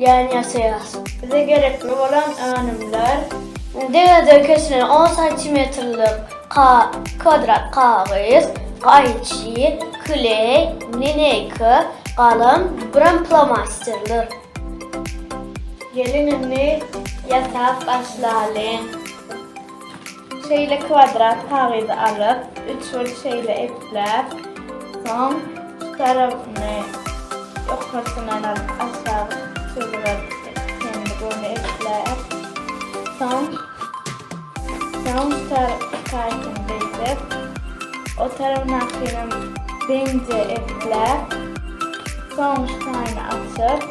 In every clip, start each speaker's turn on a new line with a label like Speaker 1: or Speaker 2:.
Speaker 1: Ýan ýasaýas. Bize gerekli bolan önümler, deňizden kesilen on santimetrlik kwadrat kagyz, gaýçy, kleý, lineýka, galam, birem plomasterler. Geliň indi ýasap başlalyň. Şeýle kwadrat kagyzy alyp, üç bir şeýle epläp, soň şu tarapyny ýokarsyndan alyp aşak çyzgylar çenli göni epläp, soň soň şu tarapky taýsyny beýdip, o tarapdakynam deňje epläp, soň şu taýyny açyp,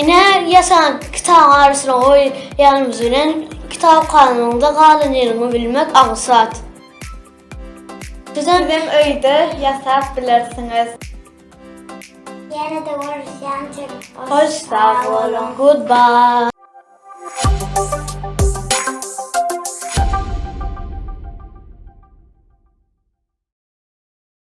Speaker 1: Ine, ýasan kitabyň arasyna goýýanymyz bilen kitap kalanyňda galan ýeriňi bilmek aňsat. Sizem öýde ýasap bilersiňiz. Ýene-de görüşýänçik hoş sag boluň. Goodbye.